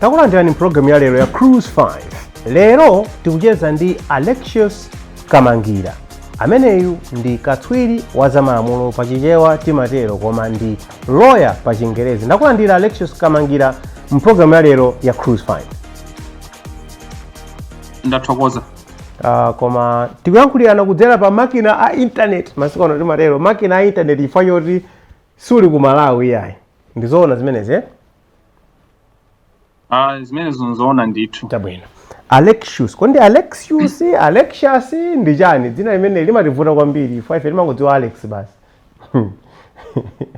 takulandirani mpulogramu ya lero ya cruise 5 lero tikucheza ndi alexius kamangira Ameneyu ndi katswiri wa zamalamulo pa Chichewa timatero koma ndi lawyer pa Chingerezi. Ndakulandira Alexius Kamangira mu program ya lero ya Cruise 5. ndathokoza Uh, koma tikuyankhulirana kudzera pa makina a internet masiku ano timatero makina a internet chifukwa choti suli ku malawi iyayi ndizoona zimenezi eh? Ah, zimenezi nzoona ndithu. Chabwino. Alexius, koma ndi Alexius, kodi ndi Alexius, Alexius ndi chani? Dzina limene limativuta kwambiri, chifukwa ife timangodziwa Alex basi.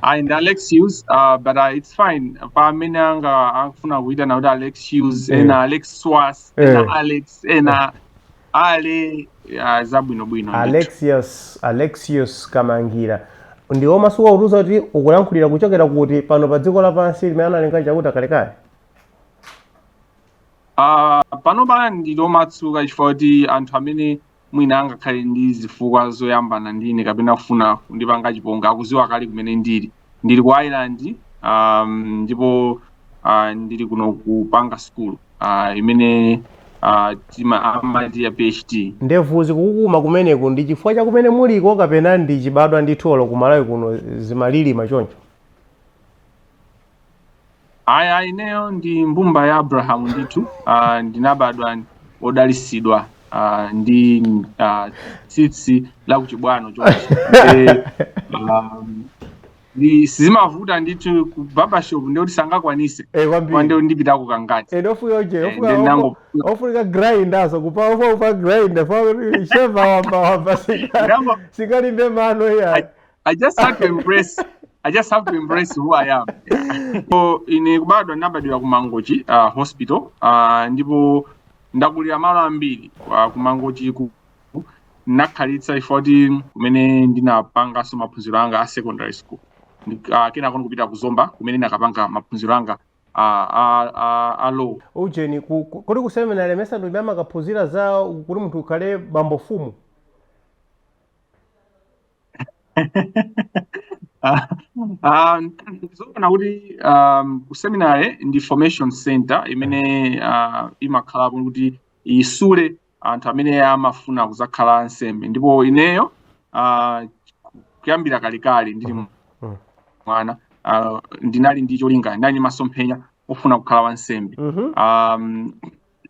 Ayi ndi Alexius, ah, but ah, it's fine. Pa amene angafune kuitana kuti Alexius, Eh. ena Alex Swas, Eh. ena Alex, ena ale zabwino bwino ndithu. alexius alexius kamangira uli omasuka kutiuza kuti ukulankhulira kuchokera kuti pano pa dziko lapansi limene analenga chauta kalekale Ah, panopa ndili omasuka chifukwa choti anthu amene mwina angakhale ndi zifukwa zoyambana ndine kapena kufuna kundipanga chipongwe akuziwa kale kumene ndili ndili ku Ireland um, ndipo uh, ndili kuno kupanga sukulu uh, imene uh, timati ya PhD ndevu zikukukuma kumeneku ndi chifukwa cha kumene muliko kapena ndi chibadwa ndithu olo ku malawi kuno zimalilima choncho Ayi ineyo ndi mbumba ya Abrahamu ndithu uh, ndinabadwa odalisidwa uh, ndi uh, tsitsi la kuchibwano chonchi Nde, um, ndi sizimavuta ndithu ku barbershop ndiye kuti sangakwanise Eh, kwa kwambiri nde ndipitako kangati nde ofunika uje Eh, ofunika- ndi nango- ofu- ofunika grindazo kupa ofa upa grind fa sheva wamba wamba singa- Nango- singalimbe mano iya I just have to embrace I just have to embrace who I am. so ine kubadwa ndinabadwira ku Mangochi uh, hospital uh, ndipo ndakulira malo ambiri uh, ku Mangochi ku ndinakhalitsa in fact kumene ndinapangaso maphunziro anga a secondary school uh, kenako nkupita ku Zomba kumene ndinakapanga maphunziro anga a, a, a, a law ujeni ku- ku- kodi kuseminari mesa ndi kumene amakaphunzira za kuti munthu ukhale bambo fumu Ah, ah, zoona kuti um, ku seminary ndi formation center imene ah, imakhalapo kuti isule anthu amene amafuna kuzakhala ansembe ndipo ineyo ah, kuyambira kalekale ndili Mhm. Mhm. mwana ah, ndinali ndi cholinga ndinali ndi masomphenya ofuna kukhala wansembe Mhm. um,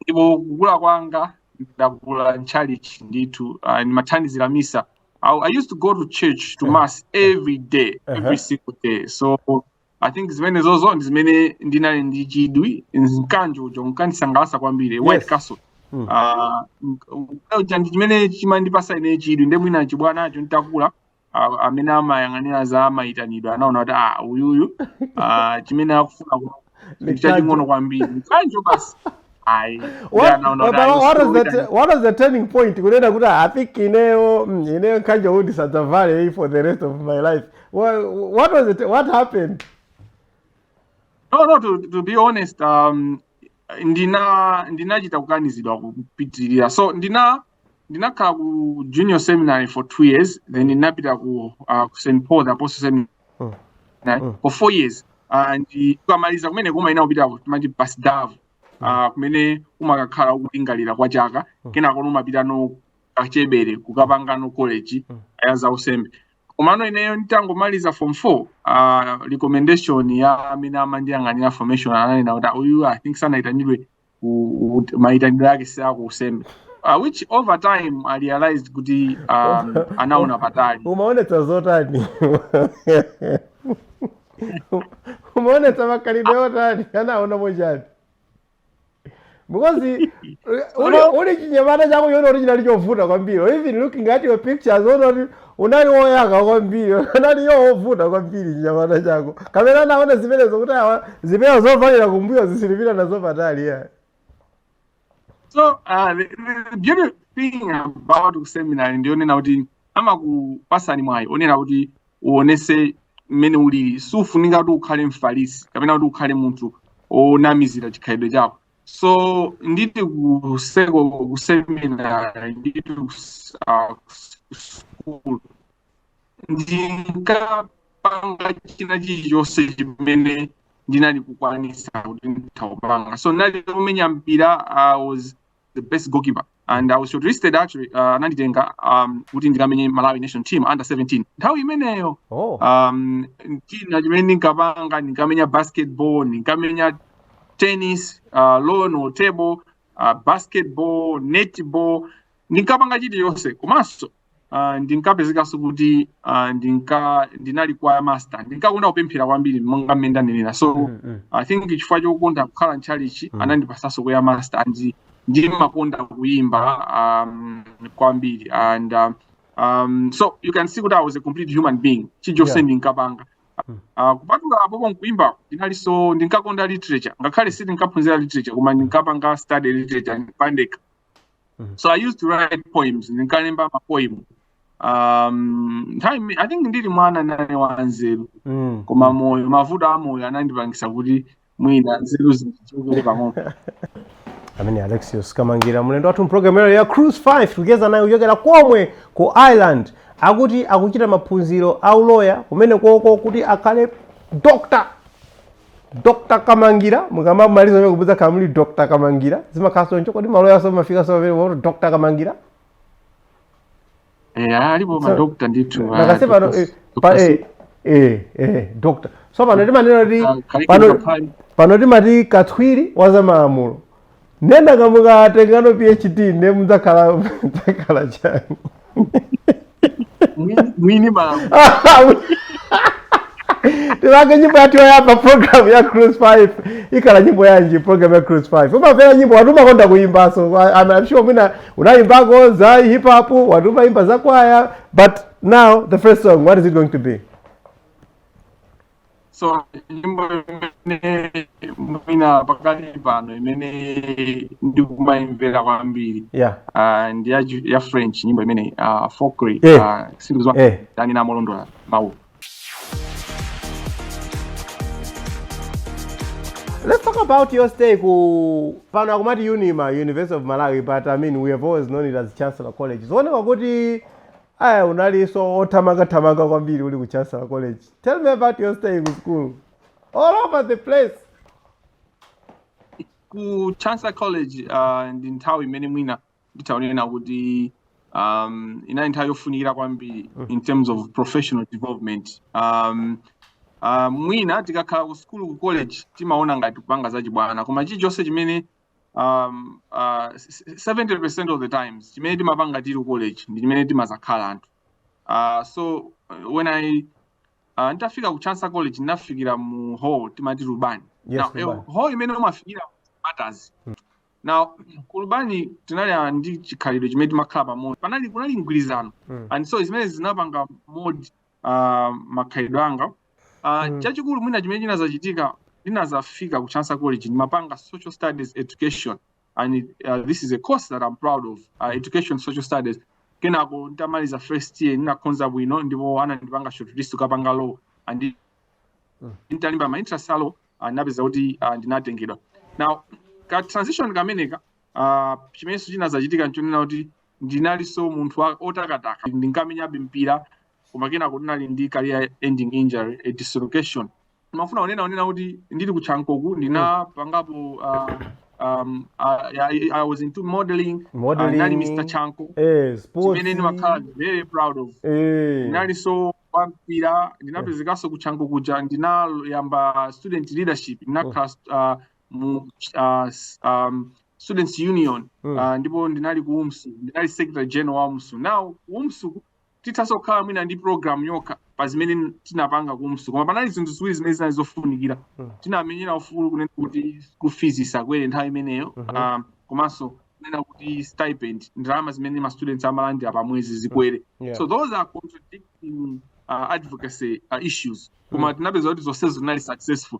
ndipo kukula kwanga ndakula mchalichi ndithu uh, ndimathandizira misa I, i used to go to church to mass every day every Uh-huh. single day so i think zimene zozo ndi zimene ndinali ndi chidwi mkanjo uja unkandisangalatsa kwambiri white Yes. cassock Mm. Ah, mk- uja ndi chimene chimandipasa ine chidwi nde mwina chibwanacho ndinakula amene amayang'anira za amayitanidwe anaona kuti ah uyuyu ah, chimene akufuna chaching'ono kwambiri mkanjo basi kunena kuti ah, i think ineyo mm, ineyo mkanjo uwu ndi sadzavale for the rest of my life what, what was it what happened no no to, to be honest um, ndina ndinachita kukanizidwa kupitirira so ndina ndinakhala ku junior seminary for two years then ndinapita ku uh, ku st paul apostle seminary Mm. Mm. for four years uh, nde ukamaliza kumeneko umayenera kupita ku- timati pasdav uh, kumene umakakhala ukulingalira kwa chaka Mm. kenako umapitano kachebere kukapangano college Mm. ya za unsembe komano ineyo nditangomaliza form four uh, recommendation ya amene amandiyang'anira formation ananena kuti "Ah, uyu i think sanaitanidwe maitanidwe ake si aku unsembe uh, which over time i realized kuti um, anaona patali umaonetsa zotani umaonetsa makhalidwe otani anaona mochani because uli- uli, chinyamata chako kuona kuti chinali chovuta kwambiri even looking at your pictures kuona kuti unali woyaka kwambiri unali you know wovuta kwambiri chinyamata chako kapena anaona zimenezo kuti awa zipewa zovalira kumbuyo sitipita nazo patali ya so uh, the, the beautiful thing about kuseminary ndiyonena kuti amakupasani mwayi onena kuti uonese mmene ulili siufunika kuti ukhale mfarisi kapena kuti ukhale munthu onamizira chikhalidwe chako so nditi kuseko kuseminary nditi kus- ah, kus- kusukulu ndinkapanga china chilichonse chimene ndinali kukwanisa kuti nditha kupanga so ndinali kumenya mpira i was the best goalkeeper and i was shortlisted actually uh, ananditenga um, kuti ndikamenye malawi national team under 17 nthawi imeneyo oh um, china chimene ndinkapanga ndinkamenya basketball ndinkamenya tennis uh, lawn or table uh, basketball netball ndinkapanga chilichonse komanso uh, ndinkapezekanso kuti uh, ndinka ndinali kwaya master ndinkakonda kupemphera kwambiri monga mmene ndanenera so Mm, mm. i think chifukwa chokonda kukhala mchalichi Mm. anandipasanso kwaya master and ndimakonda kuimba um, kwambiri and um, um, so you can see kuti i was a complete human being chilichonse Yeah. ndinkapanga Mm. Uh, kupatula apopo nkuimba ndinalinso ndinkakonda literature ngakhale sindinkaphunzira literature koma ndinkapanga study literature pandekha Mhm. so i used to write poems ndinkalemba mapoem um, nthawi ime- i think ndili mwana ndinali wanzeru Mm. koma moyo mavuto a moyo anandipangisa kuti mwina nzeru zindichokere pang'ono amene alexius kamangira mlendo wathu mpulogalamu yalero ya cruise 5 tikucheza naye kuchokera komwe ku ireland akuti akuchita maphunziro a uloya kumene koko kuti akhale doctor Dr Kamangira mukamaliza mudzakhala muli Dr Kamangira zimakhala choncho kodi maloyanso amafikanso pamene pakuti Dr Kamangira eh alipo ma doctor ndithu nakase pano eh, pa eh eh eh doctor so pano timanena kuti pano pano timati katswiri wa zamalamulo nde mukatengano phd ne muzakhala muzakhala chani Mwini- mwini timvere nyimbo yathu yoyamba program ya cruise 5 ikhala nyimbo yanji? program ya cruise 5 umamvera nyimbo wati umakonda kuyimbanso I'm sure mwina unayimbako za hip hop wati umayimba za kwaya but now the first song what is it going to be so nyimbo imene mwina pakali pano imene ndikumayimvera kwambiri yeah uh, ndi ya, ju- ya french nyimbo imene uh, fokry Eh. uh, sindikuziwa Eh. ndani namolondola mawu Let's talk about your stay ku pano akumati Unima, University of Malawi, but I mean we have always known it as Chancellor College. Zikuoneka kuti Aya unalinso othamanga thamanga kwambiri uli ku Chancellor College. Tell me about your stay ku school. All over the place. ku Chancellor College uh, ndi nthawi imene mwina nditha kunena kuti um, inali nthawi yofunikira kwambiri in terms of professional development um, uh, mwina tikakhala ku school ku college timaona ngati kupanga zachibwana koma chilichonse chimene um, uh, 70% of the times chimene timapanga tili ku college ndi chimene timazakhala anthu uh, so uh, when i uh, nditafika ku chancellor college ndinafikira mu hall timati lubani Yes, now, Lubani. eh, hall imene umafikira matters now ku lubani tinali ah, ndi chikhalidwe chimene timakhala pamodzi panali kunali mgwirizano Mm. and so zimenezi zinapanga mod ah, makhalidwe anga Ah, Mm. chachikulu mwina chimene chinazachitika ndinazafika ku Chancellor College ndimapanga social studies education and it, uh, this is a course that i'm proud of uh, education social studies kenako nditamaliza first year ndinakhonza bwino ndipo anandipanga shortlist kukapanga law and Mm. nditalemba ma entrance a law ah, ndinapeza kuti ah, ndinatengedwa now ka transition kameneka ah, chimenenso chinazachitika nchonena kuti ndinalinso munthu wa- otakataka ndinkamenyabe mpira koma kenako ndinali ndi career ending injury a dislocation ndimafuna kunena kunena kuti ndili ku chankoku ndinapangapo uh, um, I, I, i was into modeling uh, Modeling. ndinali mr chanko eh sports chimene ndimakhala very proud of eh ndinalinso wampira ndinapezekanso ku chanko kuja ndinayamba student leadership ndinakhala uh, mu uh, s- um, students union Mm. uh, ndipo ndinali ku umsu ndinali secretary general wa umsu now ku umsu tithanso kukhala mwina ndi program yokha pa zimene tinapanga ku umsu koma panali zinthu ziwiri zimene zinali zofunikira Mm. tinamenyera ufulu kunena kuti school fees isakwere nthawi imeneyo Mhm. um, komanso kunena kuti stipend ndalama zimene ma students amalandira pa mwezi zikwere Yeah. so those are contradicting uh, advocacy uh, issues koma tinapeza kuti zonsezo zinali successful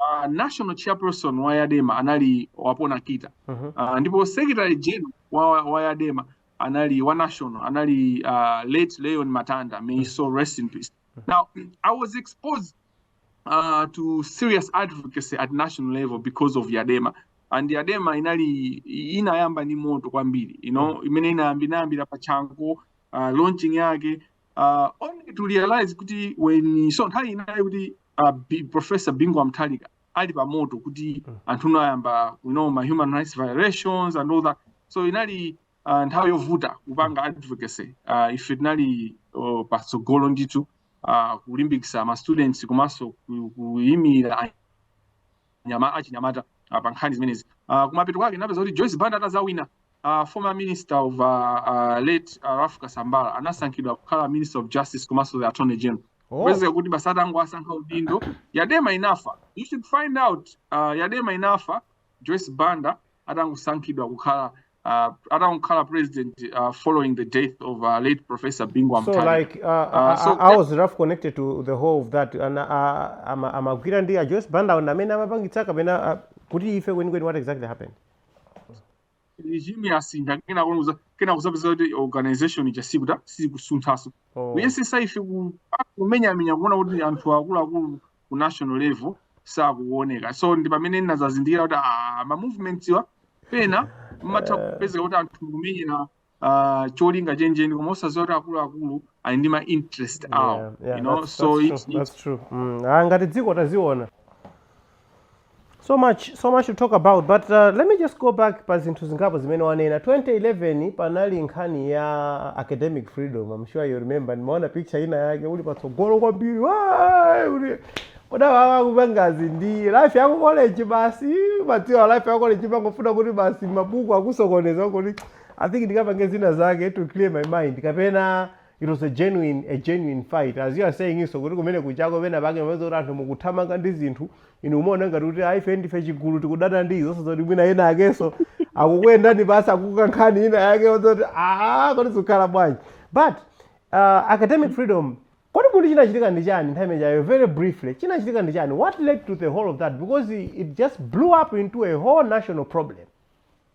uh, national chairperson wa yadema anali wapona kita uh mhm. -huh. uh, ndipo secretary general wa, wa yadema anali wa national anali uh, late leon matanda may mhm. so rest in peace mhm. now i was exposed uh, to serious advocacy at national level because of yadema and yadema inali inayamba ni moto kwambiri you know imene inayambinayambira pa chanco uh, launching yake uh, only to realize kuti when so nthawi inali kuti uh, B, professor Bingu wa Mutharika ali pamoto kuti Mm. anthu kunayamba you know ma human rights violations and all that so inali uh, nthawi yovuta kupanga advocacy uh, ife tinali uh, patsogolo ndithu uh, kulimbikisa ma students komanso ku- kuyimira achinyamata uh, pa nkhani zimenezi uh, kumapeto kwake tinapeza kuti Joyce Banda atazawina uh, former minister of uh, uh, late uh, Ralph Kasambara anasankhidwa kukhala minister of justice komanso the attorney general Oh, kupezeka kuti basi atangowasankha udindo yadema inafa you should find out uh, yadema inafa joyce banda atangosankhidwa kukhala uh, atangokhala president uh, following the death of uh, late professor Bingu wa Mutharika uh, uh, so I, how was Ralph connected to the whole of that and uh, ama- amagwira ndi a joyce banda ndi amene amapangitsa kapena uh, kuti ife kwenikweni what exactly happened regime yasintha kenako kuza kenako kuzapeza kuti organization ija sikuta sikusunthaso oh. kuyesetsa ife ku- kumenyamenya kuona kuti anthu akuluakulu ku national level sakuoneka so ndi pamene ndinazazindikira kuti ah, ma movements-wa pena mumatha kupezeka kuti anthu mukumenyera ah, cholinga chenicheni koma osaziwa kuti akuluakulu ali ndi ma interest awo Yeah, yeah, you know that's- so that's it's, true, it's that's true. Mm, ah, ngati dziko taziona so much so much to talk about but uh, let me just go back pa zinthu zingapo zimene wanena 2011 panali nkhani ya academic freedom I'm sure you remember ndimaona picture ina yake uli patsogolo kwambiri "Waay!" uli koma umapanga zi ndi life ya ku college basi umadziwa life ya ku college pangofuna kuti basi mabuku akusokoneza kuti i think ndikapange zina zake to clear my mind kapena it was a genuine a genuine fight as you are saying is kuti kumene kunjaku pena pake umapeza kuti anthu mukuthamanga ndi zinthu inu mumaona ngati kuti aife ndife chigulu tikudana ndi izo osadziwa zoti mwina ena akenso akukuyendani pasi akukankha nkhani ina yake yoti aa kodi zikukhala bwanji but uh, academic freedom kodi kuti chinachitika ndi chani nthawi imeneyo very briefly chinachitika ndi chani what led to the whole of that because it just blew up into a whole national problem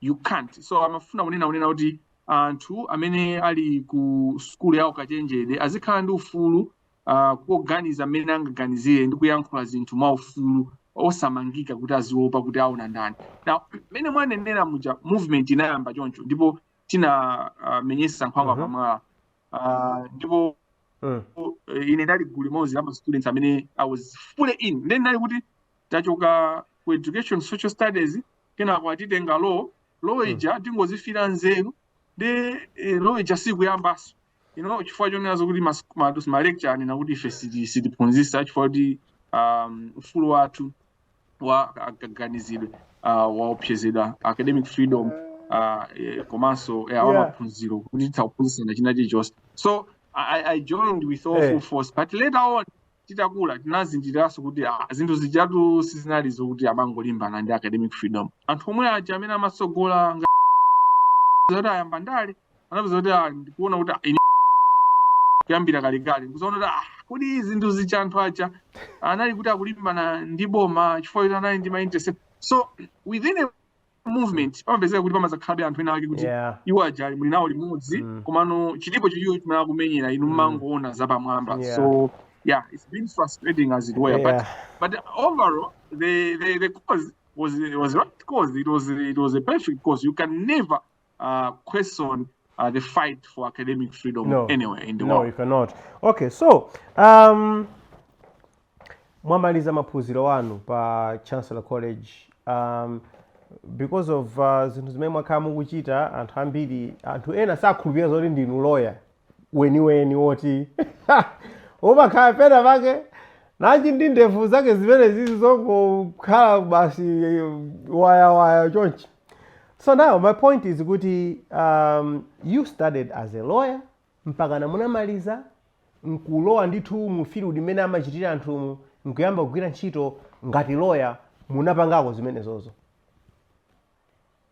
you can't so timafuna kunena kunena kuti anthu amene ali ku sukulu ya ukachenjede azikhala ndi ufulu uh, koganiza mmene angaganizire ndi kuyankhula zinthu mwa ufulu osamangika kuti aziopa kuti aona ndani now mmene mwanenera muja movement inayamba choncho ndipo tinamenyesa uh, nkhwangwa Mhm. pamwala uh, ndipo Mm. eh, ine ndali gulu limodzi la ma students amene i was fully in then ndali kuti ndachoka ku education social studies kenako atitenga law law hmm. ija tingozifira nzeru ndiye eh, law ija sikuyambanso ino chifukwa chonena kuti malecturer anena kuti ife sitiphunzisa chifukwa kuti um, ufulu wathu wa kaganizidwe uh, waopsezedwa academic freedom uh, eh, komanso eh, wamaphunziro kuti titha kuphunzisana china chilichonse so I, I joined with all hey. full force but later on titakula tinazindikiraso kuti ah, zinthu zijatu sizinali zokuti amangolimbana ndi academic freedom anthu omwe aja amene amatsogola kuti ayamba ndale anapeza kuti ah, ndikuona kuti ah, ine kuyambira kalekale ndikuzaona kuti ah, kodi zinthu zija anthu aja anali kuti akulimbana ndi boma chifukwa kuti anali ndi ma interest so within a movement pamapezeka kuti pamazakhalabe anthu ena ake kuti yeah iwo aja muli nawo limodzi Mm. komano chilipo china chimene akumenyera inu Mm. mumangoona zapamwamba Yeah. so yeah it's been frustrating as it were but yeah But overall, the, the, the cause was was right cause. It was it was a perfect cause. You can never uh, question uh, the fight for academic freedom no. anywhere in the no, world. No, you cannot. Okay, so um, mwamaliza maphunziro anu pa Chancellor College um, because of uh, zinthu zimene mwakhala mukuchita anthu ambiri anthu ena sakhulupirira zoti ndinu lawyer weniweni woti umakhala pena pake nanji ndi ndevu zake zimenezi zongokhala basi wayawaya chonchi so now my point is kuti um, you studied as a lawyer mpaka na munamaliza nkulowa ndithu mu field imene amachitira anthumu nkuyamba kugwira ntchito ngati lawyer munapangako zimenezozo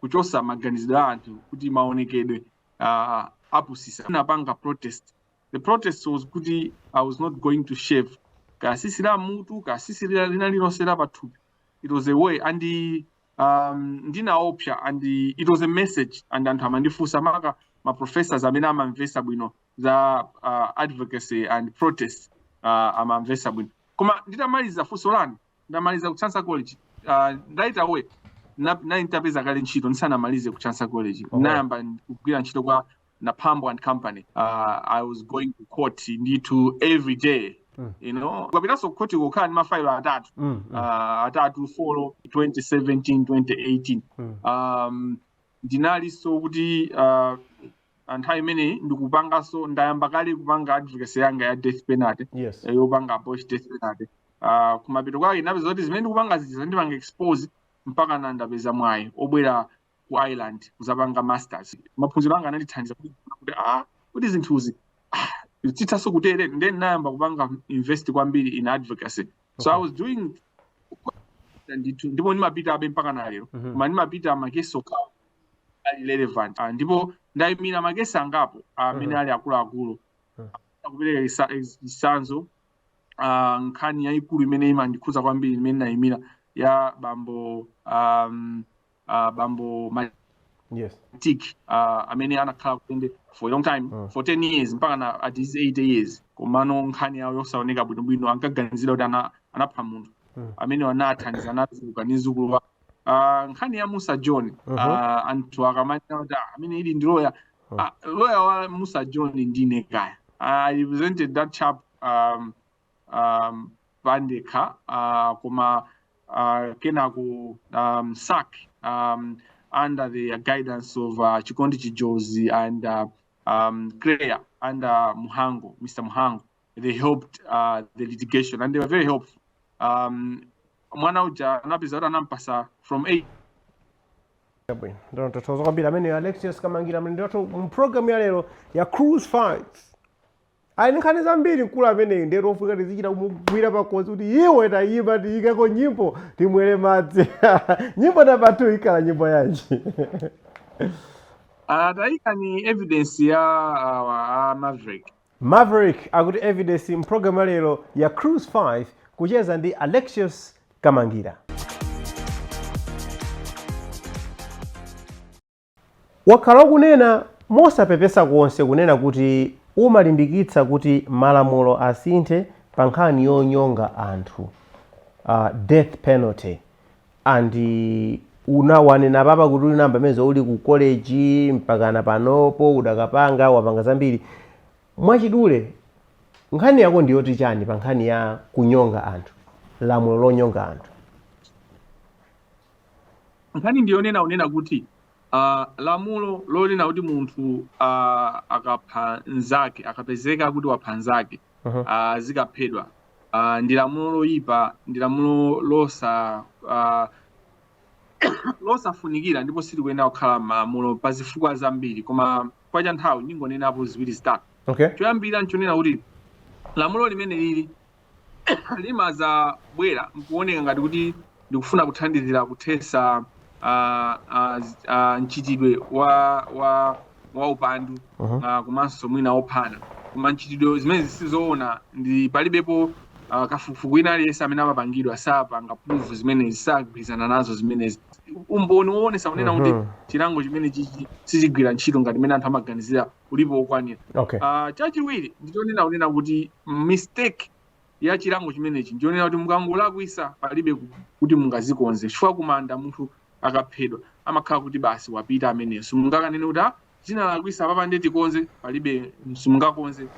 kuchosa maganizidwe a anthu kuti maonekedwe uh, amapusisa anapanga protest the protest was kuti i was not going to shave katsitsi la mutu katsitsi lina lina lilonse la pathupi it was a way and um, ndinaopsa and it was a message ndi anthu amandifunsa maka ma professors amene amamvesa bwino za uh, advocacy and protest uh, amamvesa bwino koma nditamaliza funso lanu ndamaliza ku Chancellor College uh, right away nali nditapeza kale ntchito ndisanamalize ku Chancellor College okay. nayamba kugwira ntchito kwa Napambo and Company uh, I was going to court ndithu every day Mm. you know ukapitanso kukhoti kukhala ndi mafailo atatu mm, mm. uh, atatu four 2017 2018 mm. um, ndinalinso kuti uh, pa nthawi imeneyi ndikupanganso ndayamba kale kupanga advocacy yanga ya death penalty yes eh, yopanga abolish death penalty uh, kumapeto kwake ndapeza kuti zimene ndikupanga zija zandipanga expose mpaka na ndapeza mwayi obwera ku ireland kuzapanga masters maphunziro anga anandithandiza kuti kuti ah kuti zinthuzi ah, zithanso kutere ndiye ndinayamba kupanga invest kwambiri in advocacy so i was doing ndithu ndipo ndimapitabe mpaka na lero Mhm. koma ndimapita ma case okhawo ali relevant ah, ndipo ndayimira ma case angapo ah, amene mm-hmm. ali akuluakulu mm-hmm. kupereka chitsanzo ah, nkhani yayikulu imene imandikhudza kwambiri imene ndayimira ya bambo um, uh, bambo yes. tik uh, amene anakhala kundende for a long time mm. for 10 years mpaka na at his 80 years komano nkhani yawo yosaoneka bwinobwino ankaganiziridwa kuti anapha munthu mm. amene anathandiza anatuluka ni zukulu ah, nkhani ya musa john Mhm. ah, anthu akamati kuti "Ah, amene ili ndi loya Mhm. Ah, loya wa musa john ndine kaya i represented that chap um, um, pandekha ah, koma ah, kenako um, sack um, under the guidance of uh, chikondi chijozi and uh, um, claire under muhango mr muhango they helped uh, the litigation and they were very helpful um, mwana uja anapezeka kuti anampasa form 8 bwino ndona tithokoza kwambiri ameneyo Alexious kamangira mlendo wathu mu programu ya lero ya cruise 5 ali ndi nkhani zambiri mkulu ameneyi nde ndi ofunika tizichita kumugwira pakhosi kuti iwe tayima tiyikeko nyimbo timwere madzi nyimbo namba 2 ikhala nyimbo yanji Uh, taika ni evidence ya uh, uh, Maverick Maverick akuti Evidence m'programu ya lero ya Cruise 5 kucheza ndi Alexious Kamangira. Mwakhala mukunena mosapepesa konse kunena kuti mumalimbikitsa kuti malamulo asinthe pa nkhani yonyonga anthu, uh, death penalty, and unawanena apapa kuti unayamba mene zoti uli ku college mpakana panopo ukadapanga wapanga zambiri mwachidule nkhani yako ndi yoti chani pa nkhani ya kunyonga anthu lamulo lonyonga anthu nkhani ndiyonena unena kuti uh, lamulo lonena kuti munthu uh, akapha nzake akapezeka kuti wapha nzake Mhm. uh, aziphedwa uh, ndi lamulo loyipa ndi lamulo losa uh, losafunikira ndipo silikuyenera kukhala malamulo pa zifukwa zambiri koma kaamba ka nthawi ndingonenapo ziwiri zitatu okay choyambira nchonena kuti lamulo limeneli limazabwera nkuoneka ngati kuti ndikufuna kuthandizira kuthesa ah, ah, z- ah, mchitidwe wa wa wa upandu Mhm. ah, komanso mwina ophana koma zimenezi sizoona ndi palibepo ah, kafukufuku ina aliyense amene wapangidwa sapanga prove zimenezi sagwirizana nazo zimenezi umboni woonesa kunena kuti Mhm. chilango chimenechichi sichigwira ntchito ngati mmene anthu amaganizira ulipo wokwanira okay Ah, chachiwiri ndichonena kunena kuti mistake ya chilango chimenechi ndiyonena kuti mukangolakwisa palibe kuti mungazikonze chifukwa kuma munthu akaphedwa amakhala kuti basi wapita ameneyo simungakanene kuti ah, zinalakwisa apapa nde tikonze palibe simungakonze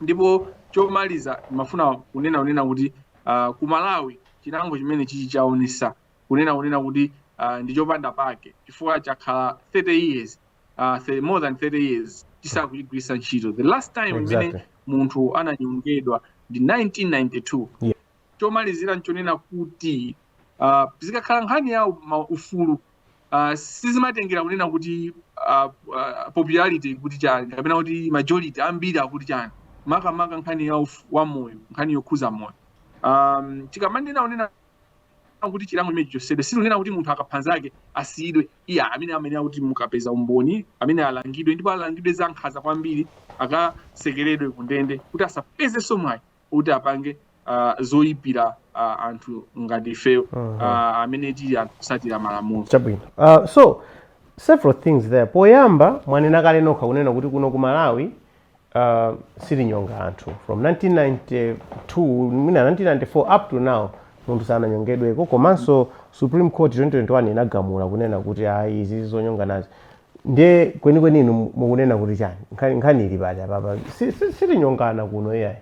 ndipo chomaliza ndimafuna kunena kunena kuti uh, ku malawi chilango chimenechichi chaonesa kunena kunena kuti uh, ndi chopanda pake chifukwa chakhala 30 years uh, th more than 30 years chisakugwiritsidwa ntchito the last time imene exactly. munthu ananyongedwa ndi 1992 yeah. chomalizira nchonena kuti uh, zikakhala nkhani ya ufulu uh, sizimatengera kunena kuti uh, uh, popularity kuti chani kapena kuti majority ambiri akuti chani makamaka nkhani ya moyo nkhani yokhuza moyo um, tikamanena unena kuti chilango chimenechi chichosedwe sitikunena kuti munthu akaphanzake asiyidwe Iyayi tikunena kuti mukapeza umboni ameneyo alangidwe ndipo alangidwe za nkhaza kwambiri akasekeredwe ku ndende kuti asapezenso mwayi kuti apange uh, zoyipira uh, anthu ngati ifeyo uh -huh. uh, amene tili anthu osatira malamulo chabwino uh, so several things there poyamba mwanena kale nokha kunena kuti kuno ku malawi uh, sitinyonga anthu from 1992 mwina 1994 up to now munthu sananyongedweko komanso supreme court 2021 inagamula kunena kuti ayi izi zonyonganazi nde kwenikweni inu mukunena kuti chani Nkhani- nkhani ili pati apapa Si- si- sitinyongana kuno iyayi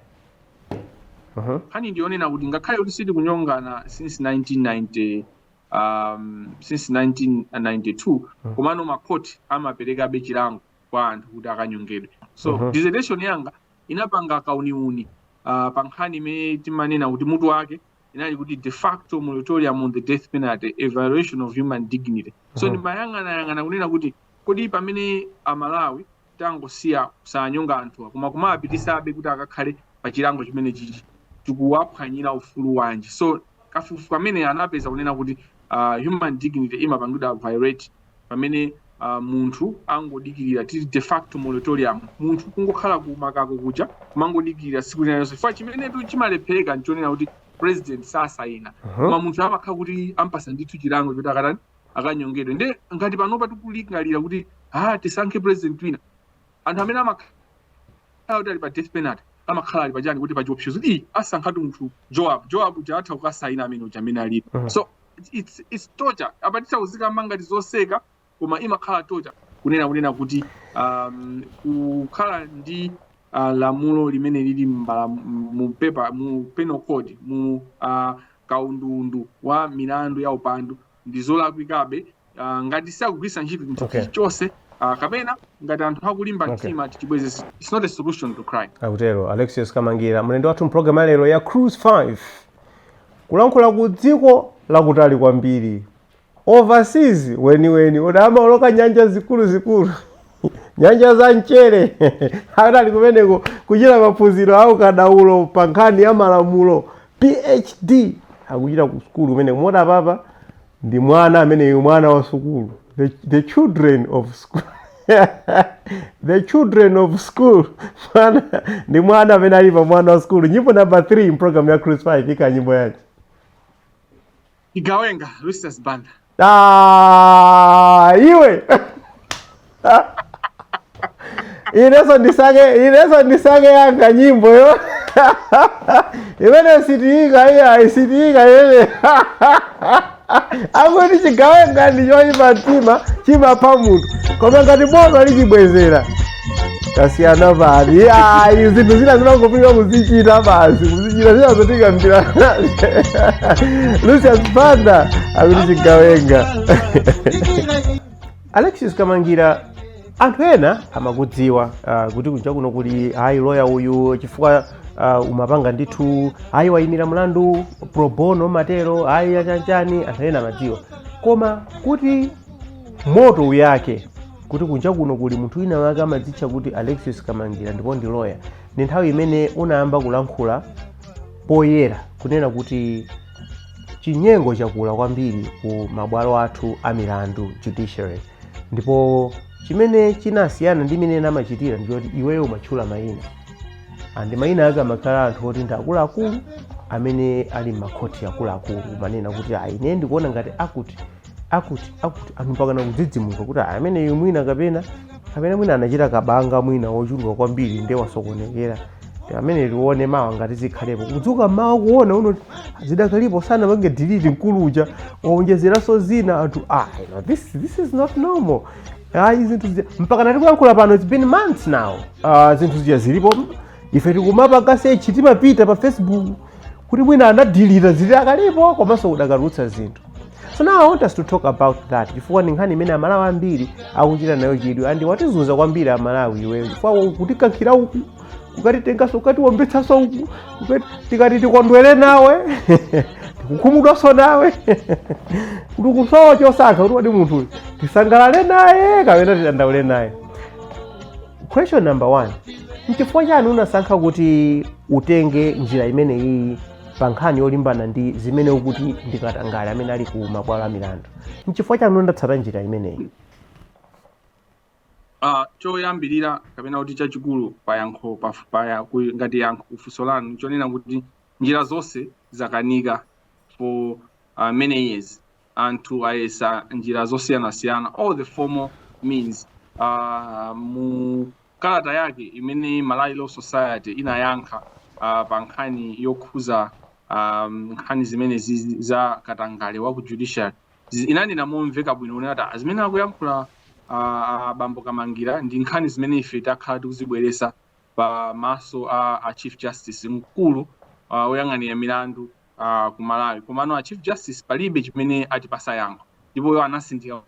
Mhm. nkhani ndiyonena kuti ngakhale kuti sitikunyongana since 1990 um, since 1992 komano makhoti amaperekabe chilango kwa anthu kuti akanyongedwe so uh -huh. dissertation yanga inapanga kauniuni uh, pa nkhani imene timanena kuti mutu wake inali kuti de facto moratorium on the death penalty evaluation of human dignity so ndimayang'anayang'ana kunena kuti kodi pamene amalawi tangosiya osanyonga anthuwa koma kumawapititsabe kuti akakhale pa chilango chimene chikuwaphwanyira ufulu wanji so kafukufuku ameneyu anapeza kunena kuti uh, human dignity imapangidwa violate pamene uh, munthu angodikirira tili de facto moratorium munthu kungokhala kumakako kuja kumangodikirira tsiku lina lonse chifukwa chimenetu chimalephereka nchonena kuti president sasayina koma munthu amakhala kuti ampatsa ndithu chilango choti akatani akanyongedwe nde ngati panopa tikulingalira kuti ha tisankhe president wina anthu amene amakhala kuti ali pa death penalty amakhala ali pachani kuti pachiopsezo kuti ii asankhatu munthu joab joab uja atha kukasayina amene uja amene alipo Mhm. so it's- it's, it's torture apa tisazikambe ngati zoseka koma imakhala torture kunena kunena kuti um, kukhala ndi uh, lamulo limene lili pa pepa mu penal code mu uh, kaundundu wa milandu ya upandu ndizolakwikabe ngati sakugwiritsa ntchito chinthu okay. chilichonse uh, kapena ngati anthu akulimba Okay. mtima tichibweze it's not a solution to crime akutero alexius kamangira mlendo wathu mpulogalamu ya lero ya cruise 5 kulankhula ku dziko lakutali kwambiri overseas weniweni kuwoloka nyanja zikuluzikulu nyanja za mchere ali kumeneko kuchita maphunziro a ukadaulo pa nkhani ya malamulo PhD akuchita ku sukulu kumeneko moti apapa ndi mwana ameneyo mwana wa sukulu the, the children of school the children of school mwana ndi mwana amene ali pa mwana wa sukulu nyimbo number 3 mpulogalamu ya cruise 5 ikani nyimbo yanji Chigawenga, Lucius Banda. Ah, iwe inenso ndisankhe inenso ndisankhe yanga nyimbo yo imene sitiika iya isitiika imene akuti chigawenga ndi choyipa mtima chimapha munthu koma ngati boma lichibwezera tasiyana pati ayi zinthu zina zimangopirira kuzichita basi kuzichita zina zotikambira lucius banda akuti chigawenga alexis kamangira anthu ena amakudziwa uh, kuti kunja kuno kuli hayi loya uyu chifukwa uh, umapanga ndithu hayi wayimira mlandu pro bono matero hayi yachanchani anthu ena amadziwa koma kuti moto uyake kuti kunja kuno kuli munthu wina wake amadzitcha kuti alexius kamangira ndipo ndi loya ndi nthawi imene unayamba kulankhula poyera kunena kuti chinyengo chakula kwambiri ku mabwalo athu a milandu judiciary ndipo chimene chinasiyana ndi mmene amachitira ndichoti iweyo umatchula mayina andi mayina ake amakhala anthu oti ndi akuluakulu amene ali m'makhoti akuluakulu umanena kuti ayi ine ndikuona ngati akuti akuti akuti anthu mpakana kudzidzimuka kuti "Ah, ameneyu mwina kapena kapena mwina anachita kabanga mwina wochuluka kwambiri nde wasokonekera Ameneyu tione mawa ngati zikhalepo kudzuka mawa kuona zidakalipo sanapange delete mkulu uja waonjezeranso zina anthu ah you know, this, this is not normal ah, izi zinthu zija mpaka na tikuyankhula pano it's been months now ah, zinthu zija zilipo ife tikumapanga sechi timapita pa facebook kuti mwina anadilita zidakalipo komanso ukadatulutsa zinthu so now i want us to talk about that chifukwa ndi nkhani imene amalawi ambiri akuchita nayo chidwi andi watizuza kwambiri amalawi iweyo chifukwa kutikankhira uku kukatitenganso kukatiwombetsanso uku kukati- tikati tikondwere nawe tikukhumudwanso nawe kuti tikusowa chosankha kuti kodi munthu uyu tisangalale naye kapena tidandaule naye Question number 1. Nchifukwa chani unasankha kuti utenge njira imeneyi pa nkhani yolimbana ndi zimene ukuti ndi katangale amene ali ku mabwalo a milandu? Nchifukwa chani unatsata njira imeneyi? Uh, choyambirira kapena kuti chachikulu pa yankho pa, pa ya- ku- ngati yankho ku funso lanu chonena kuti njira zonse zakanika for uh, many years anthu ayesa njira zosiyanasiyana all the formal means uh, mu kalata yake imene malawi law society inayankha uh, pa nkhani yokhuza um, nkhani zimenezi za katangale wa ku judiciary Zi- inanena momveka bwino kunena kuti "Ah, zimene akuyankhula abambo kamangira ndi nkhani zimene ife takhala tikuzibweresa pa maso pa a chief justice mkulu uh, woyang'anira milandu uh, ku Malawi komano a Chief Justice palibe chimene atipasa yankho ndipo iwo anatsindika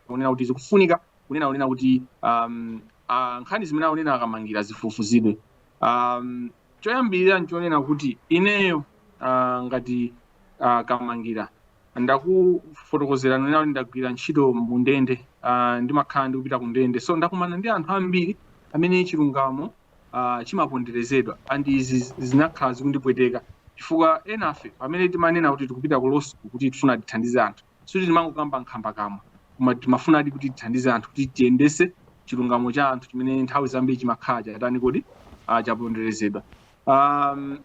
kunena kuti zikufunika kunena kunena kuti um, uh, nkhani zimene akunena akamangira zifufuzidwe um, choyambirira nchonena kuti ineyo uh, ngati uh, kamangira ndakufotokozera kunena kuti ndagwira ntchito mundende uh, ndimakhala ndikupita kundende so ndakumana ndi anthu ambiri amene chilungamo uh, chimaponderezedwa and izi zinakhala zikundipweteka chifukwa enafe pamene timanena kuti tikupita ku law school kuti tifuna tithandize anthu sikuti timangokamba nkhambakamwa koma timafunadi kuti tithandize anthu kuti tiyendese chilungamo cha anthu chimene nthawi zambiri chimakhala chatani kodi uh, chaponderezedwa um,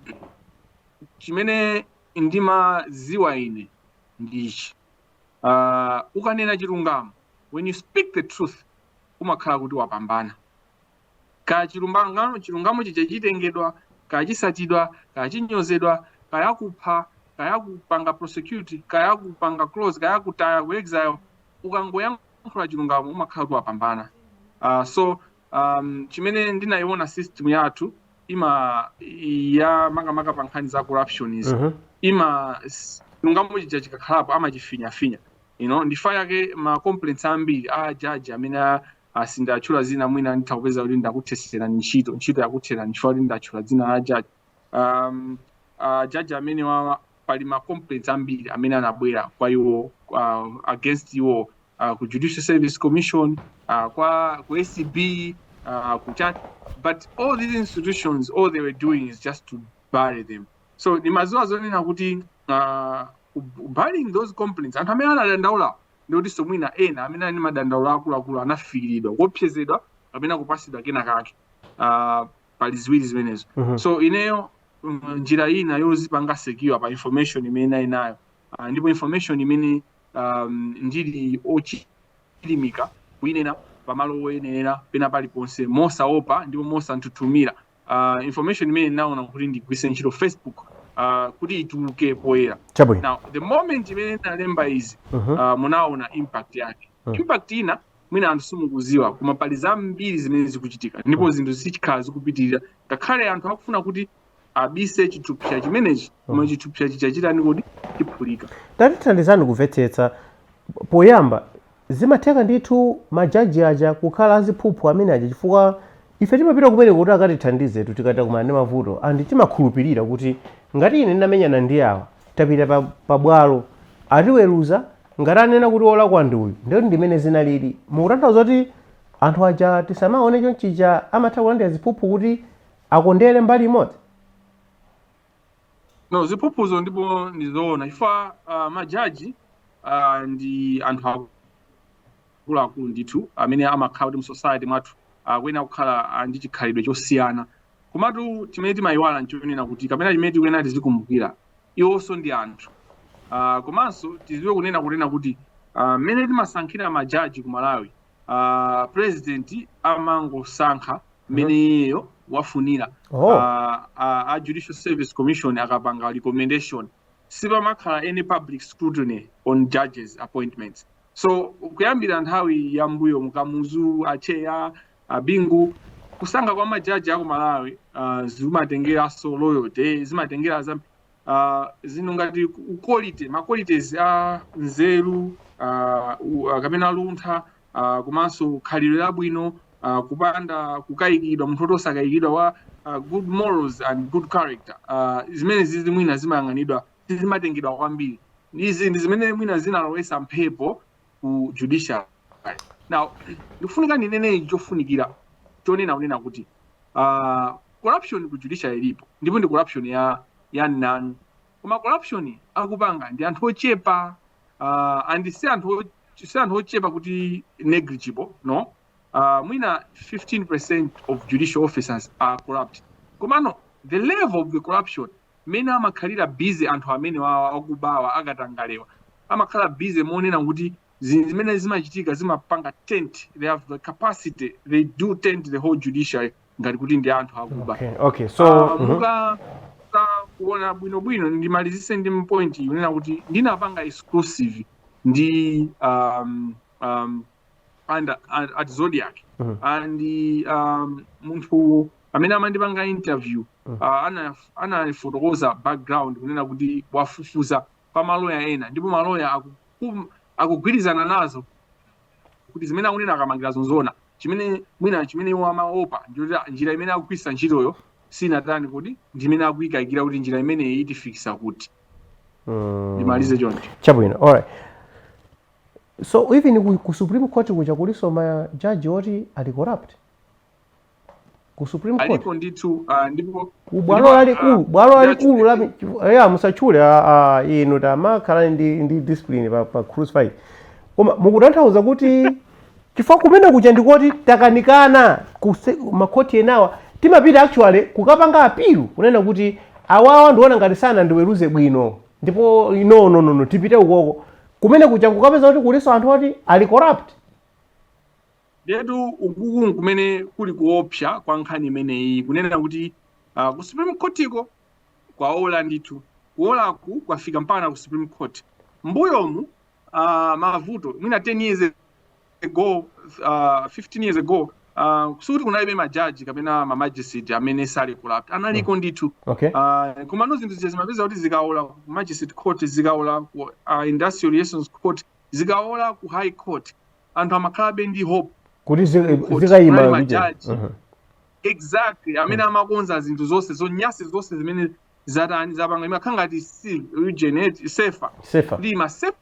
chimene ndimaziwa ine ndi ichi uh, ukanena chilungamo when you speak the truth umakhala kuti wapambana Kaya chilumbangan chilungamo chija chitengedwa, kaya chisatidwa, kaya chinyozedwa, kaya kupha, kaya kupanga prosecute, kaya kupanga curse, kaya kutaya ku exile, ukangoyankhula chilungamo umakhala kuti wapambana. Uh, so um, chimene ndinayiona system yathu ima ya makamaka pa nkhani za corruption izi Mhm. ima s- chilungamo chija chikakhalapo amachifinyafinya you know, nchifukwa chake ma complaints ambiri a jaji amene a- Sindatchula zina mwina nditha kupeza kuti ndakutheserani ntchito ntchito yakutherani chifukwa kuti ndatchula dzina la jaji um, uh, jaji amenewawa pali ma complaints ambiri amene anabwera kwa iwo uh, against iwo uh, ku judicial service commission uh, kwa ku acb uh, ku chat but all these institutions all they were doing is just to bury them so ndimaziwa zonena kuti uh, burying those complaints anthu amene anadandaulawo ndi kutinso mwina ena amene ali ndi madandaulo akuluakulu anafikiridwa, kuopsezedwa kapena kupasidwa kena kake. Uh, pali ziwiri zimenezo. Mm -hmm. So ineyo mm, njira um, ina yozipanga secure pa information imene ndinali nayo uh, ndipo information imene um, ndili ochilimika kuinena pamalo oyenera pena paliponse mosaopa ndipo mosanthuthumira uh, information imene ndinaona kuti ndigwiritse ntchito facebook uh, kuti ituluke poyera now the moment imene ndinalemba izi Mhm. uh, munaona impact yake Mm. impact ina mwina anthu simukuziwa koma pali zambiri zimene zikuchitika ndipo zinthu zizikhala zikupitirira ngakhale anthu akufuna kuti abise chithupsa chimenechi koma Mm. chithupsa chichitani kodi chiphulika tatithandizani kumvetsetsa poyamba Zimatheka ndithu majaji aja kukhala aziphuphu amene aja chifukwa Ife timapita kumeneko kuti akatithandize tu tikati takumana ndi mavuto and timakhulupilira kuti ngati ine ndinamenyana ndi awa tapita pa pa bwalo atiweruza ngati anena kuti olakwa ndi uyu ndiye kuti ndimene zinalili mukutanthauza kuti anthu aja tisamaone chonchija amatha kulandira ziphuphu kuti akondere mbali imodzi? no ziphuphuzo ndipo ndizoona chifukwa uh, majaji uh, ndi anthu akuluakulu ndithu amene amakhala kuti mu society mwathu akuyenera kukhala ah, ndi chikhalidwe chosiyana komatu chimene timayiwala nchonena kuti kapena chimene tikuyenera tizikumbukira iwonso ndi anthu Ah, komanso tiziwe kunena kuti ah, mmene timasankhira majaji ku malawi uh, president amangosankha mmene iyeyo wafunira Oh. Ah, ah, a judicial service commission akapanga recommendation sipamakhala any public scrutiny on judges appointments so kuyambira nthawi ya mbuyo mu Kamuzu a Tcheya a Bingu kusankha kwa majaji aku Malawi ah, zimatengeranso loyalty zimatengera za uh, zinthu ngati quality ma qualities a nzeru uh, u- uh, kapena luntha uh, komanso khalidwe labwino uh, kupanda kukayikidwa munthu woti osakayikidwa wa uh, good morals and good character uh, zimene izi mwina zimayang'anidwa sizimatengedwa kwambiri izi ndi zinthu zimene mwina zinalowesa mphepo ku judiciary now ndikufunika ndinene ichi chofunikira chonena n'kunena kuti uh, corruption ku judiciary ilipo ndipo ndi corruption ya ya mnanu koma corruption akupanga ndi anthu ochepa uh, and si anthu o- si anthu ochepa kuti negligible no uh, mwina 15% of judicial officers are corrupt komano the level of the corruption mmene amakhalira busy anthu amenewawa akubawa akatangalewa amakhala busy monena kuti zinthu zimene zimachitika zimapanga taint they have the capacity they do taint the whole judiciary ngati kuti ndi anthu akuba okay okay so Ah, mhm. muka muka kuona bwinobwino ndimalizise ndi point iyi kunena kuti ndinapanga exclusive ndi um, um, and, and, at Zodiak Mhm. and um, munthu Amene amandipanga interview anafotokoza background kunena kuti wafufuza kwa ma lawyer ena ndipo ma lawyer akugwirizana nazo kuti zimene akunena a Kamangirazo nzoona. Chimene mwina chimene iwo amaopa ndichoti njira imene akugwiritsa ntchitoyo sinatani kodi ndi imene akuyikayikira kuti njira imeneyi itifikisa kuti. Mm. Ndimalize choncho. Chabwino. All right. So even ku Supreme Court kuja kuliso ma judge oti ali corrupt. ku supreme court alipo ndithu uh, ndipo ku bwalo ndipo, lalikulu ah, bwalo lalikulu la ndachulidwa. ya musachule ah, ah, inu tamakhala ndi, ndi discipline pa, pa cruise fight koma mukutanthauza kuti chifukwa kumene kuja ndikoti takanikana kuse- makhoti enawa timapita actually kukapanga apilu kunena kuti awawa ndikuona ngati sanandiweruze bwino ndipo no no no no tipite ukoko kumene kuja kukapeza kuti kuliso anthu oti ali corrupt Ndiyetu ukuku nkumene kuli kuopsa kwa nkhani imeneyi kunena kuti uh, ku Supreme Courtko kwaola ndithu kuolaku kwafika mpana ku Supreme Court mbuyomu uh, mavuto mwina 10 years ago uh, 15 years ago uh, sikuti kunalibe majaji kapena ma magistrate amene ali corrupt analiko mm. ndithu okay. uh, komano zinthu zija zimapeza kuti zikaola ku magistrate court zikaola ku uh, industrial relations court zikaola ku high court anthu amakhalabe ndi hope kuti ku court zikayima kunali kuchera majaji Mhm. exactly amene amakonza zinthu zonse zonyasi zonse zimene zatani zapanga imakhala ngati si region eti sefa sefa ndiye imasefa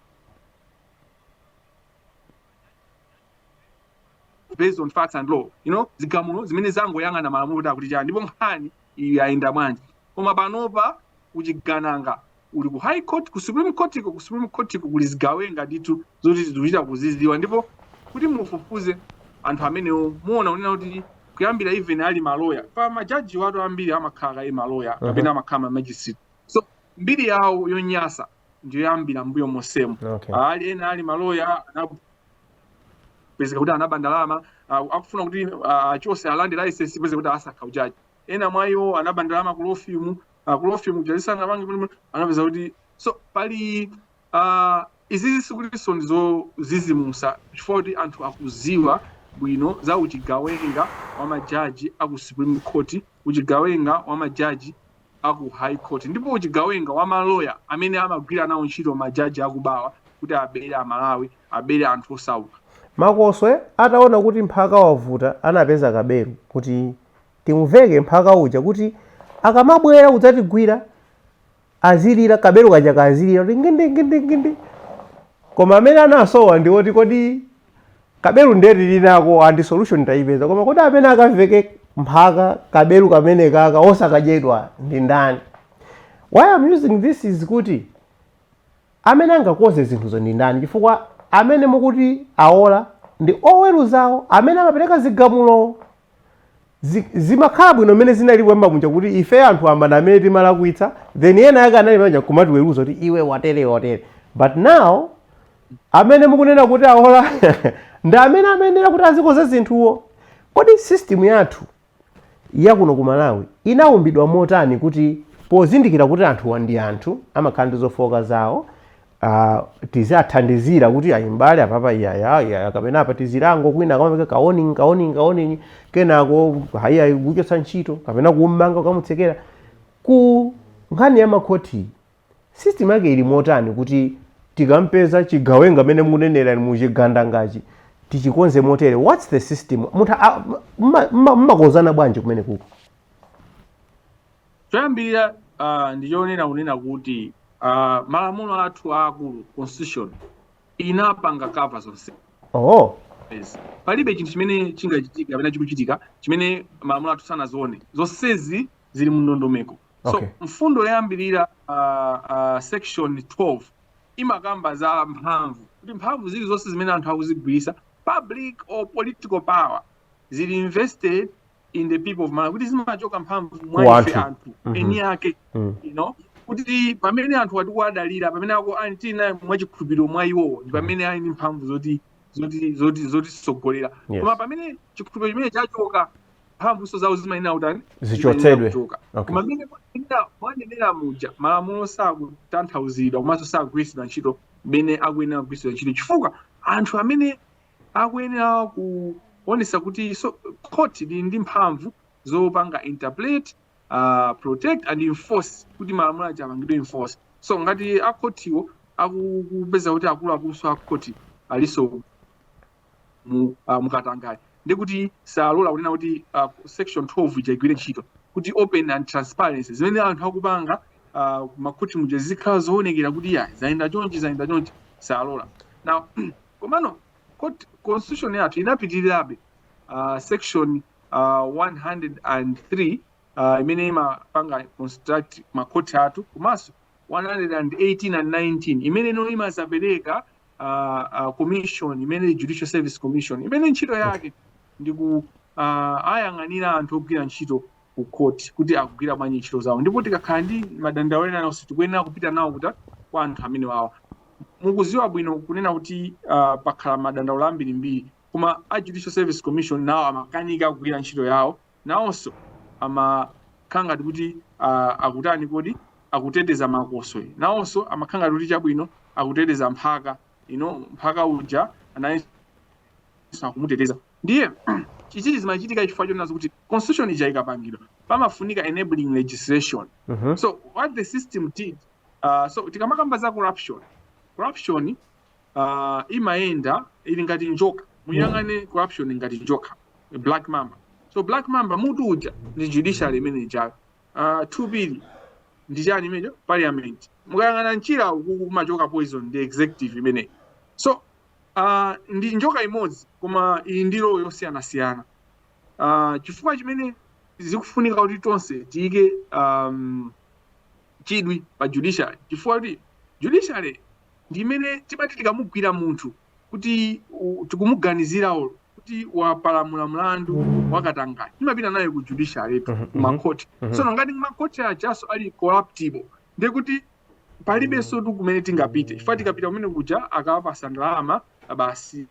based on facts and law you know zigamulo zimene zikungoyang'ana malamulo kuti akuti chani ndipo nkhani iyi yayenda bwanji koma panopa kuchigananga uli ku high court ku supreme court ko ku supreme court ko kuli zigawenga ndithu zoti zikuchita kuziziwa ndipo kuti mufufuze anthu amenewo muwona kunena kuti kuyambira even ali maloya paja majaji athu ambiri amakhala kaye maloya kapena amakhala ma magistrate so mbiri yawo yonyasa ndi yoyambira mbuyo mosemo Okay. ali ena ali maloya anapezeka kuti anaba ndalama ah, akufuna kuti ah, achose alande license mpeze kuti asakha ujaji ena mwa iwo anaba ndalama ku law firm uh, ku law firm kuja lisanapange bwino anapeza kuti so pali uh, izizi sikutinso ndi zozizimusa chifukwa kuti anthu akuziwa bwino za uchigawenga wa majaji a ku supreme court uchigawenga wa majaji a ku high court ndipo uchigawenga wa maloya amene amagwira nawo ntchito majaji akubawa kuti abere amalawi abere anthu osauka makoswe ataona kuti mphaka wavuta anapeza kabelu kuti timuveke mphaka uja kuti akamabwera kudzatigwira azilira kabelu kaja kazilira kuti ngindi ngindi ngindi koma amene anasowa ndi woti kodi kabelu ndiye tili nako ndi solution tayipeza koma kodi amene akaveke mphaka kabelu kameneka osakadyedwa ndi ndani why am using this is kuti amene angakonze zinthuzo ndi ndani chifukwa amene mukuti awola ndi oweruzawo amene amapereka zigamulo Zi- zimakhala bwino mmene zinali kuyamba muja kuti ife anthu wamba amene timalakwitsa then ena ake anali majaji kumatiweruza kuti iwe watere watere but now amene mukunena kuti awola ndi amene amayenera kuti azikonza zinthuwo kodi system yathu yakuno ku malawi inaumbidwa motani kuti pozindikira kuti anthuwa ndi anthu amakhala ndi zofooka zawo uh, tizathandizira kuti ayi mbale apapa iyaya iyaya kapena apa tizilango kwina kumapereka ka warning ka warning ka warning kenako ayi ayi kuchotsa ntchito kapena kummanga ukamutsekera ku nkhani ya makhoti system yake ili motani kuti tikampeza chigawenga mmene munenera muchigandangachi tichikonze motere what's the system munthu a- mma- mma- mmakonzana bwanji kumene kuko choyambirira uh, ndi chonena kunena kuti uh, malamulo athu aakulu constitution inapanga kava zonse oh. palibe chinthu chimene chingachitika kapena chikuchitika chimene malamulo athu sanazione zonsezi zili mu ndondomeko so okay. mfundo yoyambirira uh, uh, section 12 imakamba za mphamvu kuti mphamvu zili zonse zimene anthu akuzigwiritsa public or political power zili vested in the people of Malawi kuti zimachoka mphamvu mwa ife anthu. anthu Mhm. eni ake Mm. you know kuti pamene anthu ati tikuwadalira pamene ako ali tili naye mwa chikhulupiriro mwa iwowo ndi pamene ali ndi mphamvu zoti zoti zoti zotisogolera Yes. koma pamene chikhulupiriro chimene chachoka mphamvunso zawo zimayenera kutani Zichotsedwe. Zimayenera kuchoka. Okay. koma mmene mwanenera- mwanenera muja malamulo sakutanthauzidwa komanso sakugwiritsidwa ntchito mmene akuyenera kugwiritsidwa ntchito chifukwa anthu amene akuyenera kuonetsa kuti so, khoti lili ndi mphamvu zopanga interpret uh, protect and enforce kuti malamulo aja apangidwe enforce so ngati akhotiwo akupeza kuti akuluakulunso akhoti alinso mu, uh, mukatangale ndi kuti salola kunena kuti uh, section 12 ija igwire ntchito kuti open and transparency zimene anthu akupanga uh, makhoti muja zikhala zoonekera kuti ya zayenda chonchi zayenda chonchi salola now Komano constitution yathu inapitirirabe uh, section uh, 103 uh, imene imapanga construct makhoti athu komanso 118 and 19 imene ino imazapereka uh, uh, commission imene judicial service commission imene ntchito yake ndi ku uh, wayang'anira anthu ogwira ntchito ku court kuti akugwira bwanji ntchito zawo ndipo tikakhala ndi madandaulo ena alionse tikuyenera kupita nawo kuti kwa anthu amenewawa mukudziwa bwino kunena kuti uh, pakhala madandaulo ambirimbiri koma a judicial service commission nawo amakanika kugwira ntchito yawo nawonso amakhala ngati kuti uh, akutani kodi akuteteza makoswe nawonso amakhala ngati kuti chabwino akuteteza mphaka ino mphaka uja nayenso akumuteteza Ndiye ichichi zimachitika chifukwa chonena kuti constitution ija ikapangidwa pamafunika enabling legislation mm -hmm. so what the system did uh, so tikamakamba za corruption corruption uh, imayenda ili ngati njoka muyang'ane mm. corruption ngati njoka black mamba so black mamba mutu uja ndi judiciary imene ija uh, two billion ndi chani imenecho parliament mukayang'ana mchira uku kumachoka poison ndi executive imeneyi so Uh, ndi njoka imodzi koma ili ndi role yosiyanasiyana. Uh, chifukwa chimene zikufunika kuti tonse tiyike um, chidwi pa judiciary chifukwa choti judiciary ndi imene timati tikamugwira munthu kuti u- tikumuganizirayo kuti wapalamula mlandu wakatangale timapita naye ku judiciary Mhm, ku mhm. makhoti Mhm. tsono ngati kumakhoti ajaso ali corruptible ndiye kuti palibensotu kumene tingapite chifukwa tikapita kumene kuja akawapasa ndalama basi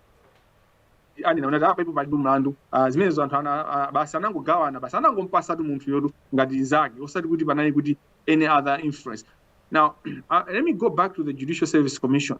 anena kuti apapo palibe mlandu Ah, zimenezo anthu ana- ah, basi anangogawana basi anangompasatu munthu uyotu ngati nzake osati kuti panali kuti any other influence now uh, let me go back to the judicial service commission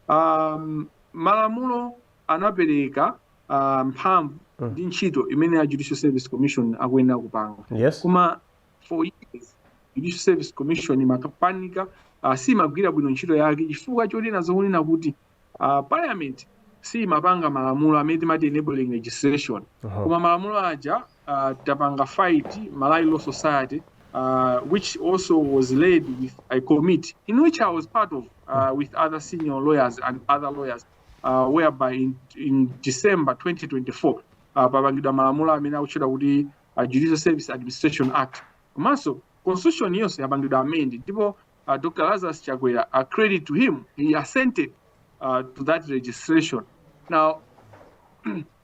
um, malamulo anapereka uh, mphamvu ndi ntchito imene a judicial service commission akuyenera kupanga yes koma for years judicial service commission imakapanika uh, simagwira bwino ntchito yake chifukwa chonena zokunena kuti uh, parliament siimapanga malamulo amene timati enabling legislation Aha. koma malamulo aja uh, tapanga fight malawi law society uh, which also was led with a committee in which i was part of uh, with other senior lawyers and other lawyers uh, whereby in, in december 2024 uh, papangidwa malamulo amene akutchedwa kuti uh, Judicial Service Administration Act komanso constitution yonse yapangidwa amend ndipo uh, Dr. Lazarus Chakwera uh, credit to him he assented uh, to that legislation now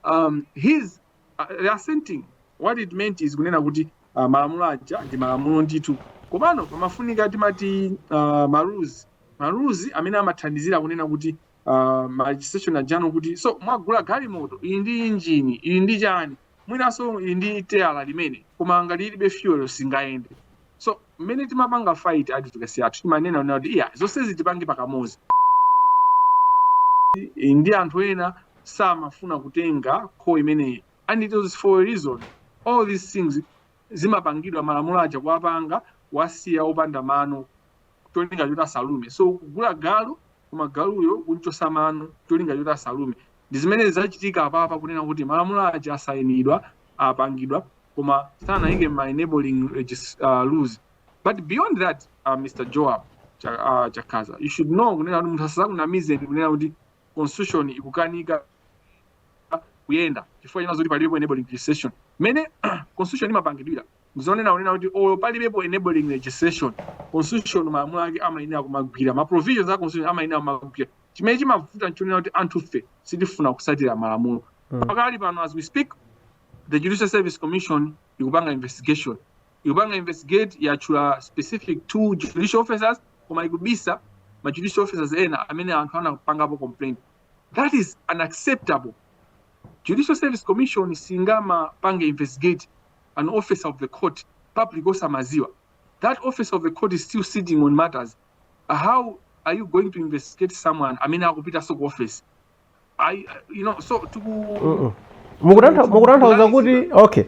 um, his uh, assenting what it meant is kunena kuti uh, malamulo aja ndi malamulo ndithu komano pamafunika timati uh, marules marules amene amathandizira kunena kuti uh, ma legislation ajano kuti so mwagula galimoto ili ndi injini ili ndi chani mwinanso ili ndi teyala limene koma ngati ilibe fuel singayende so mmene timapanga fight advocacy yathu timanena kunena kuti iyayi zonsezi tipange pakamozi I- ndi anthu ena samafuna kutenga call imeneyi and it was for a reason all these things zimapangidwa malamulo aja kuwapanga kuwasiya opanda mano cholinga choti asalume so kugula galu koma galuyo kunchosa mano cholinga choti asalume ndi zimene zizachitika apapa kunena kuti malamulo aja asayinidwa apangidwa koma sanayike ma enabling regis- uh, rules but beyond that uh, mr joab Cha- uh, chakhaza you should know kunena kuti munthu asazakunamizeni kunena kuti constitution ikukanika kuyenda chifukwa chonena zoti palibepo enabling legislation mmene constitution imapangidwira ndizonena kunena kuti olo palibepo enabling legislation constitution malamulo ake amayenera kumagwira ma provisions a constitution amayenera kumagwira chimene chimavuta nchonena kuti anthufe sitifuna kusatira malamulo Mm. pakali pano as we speak the judicial service commission ikupanga investigation ikupanga investigate yatchula specific two judicial officers koma ikubisa ma judicial officers ena amene anthu anapangapo complaint that is unacceptable judicial service commission singamapange investigate an officer of the court public osamaziwa that officer of the court is still sitting on matters how are you going to investigate someone amene akupitaso ku office ayi you know so tiku Mm-mm. Mukutantha- mukutanthauza kuti okay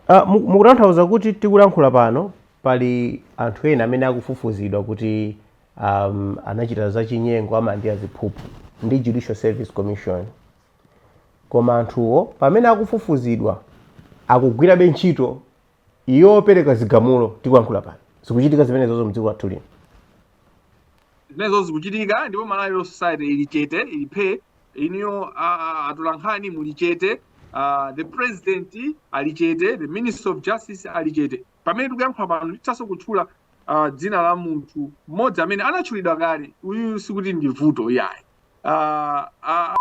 Ah, mu- mukutanthauza kuti tikulankhula pano pali anthu ena amene akufufuzidwa kuti um, anachita zachinyengo amandi aziphuphu ndi judicial service commission koma anthuwo pamene akufufuzidwa akugwirabe ntchito Iwo opereka zigamulo, tikuyankhula pano, zikuchitika zimenezozo mdziko lathu lino. zimenezo zikuchitika ndipo malawi law society ili chete ili phee inuyo atolankhani muli chete ah, the president ali chete the minister of justice ali chete pamene tikuyankhula pano ndithanso kutchula ah, dzina la munthu mmodzi amene anatchulidwa kale uyu sikuti ndi vuto yayi ah, ah,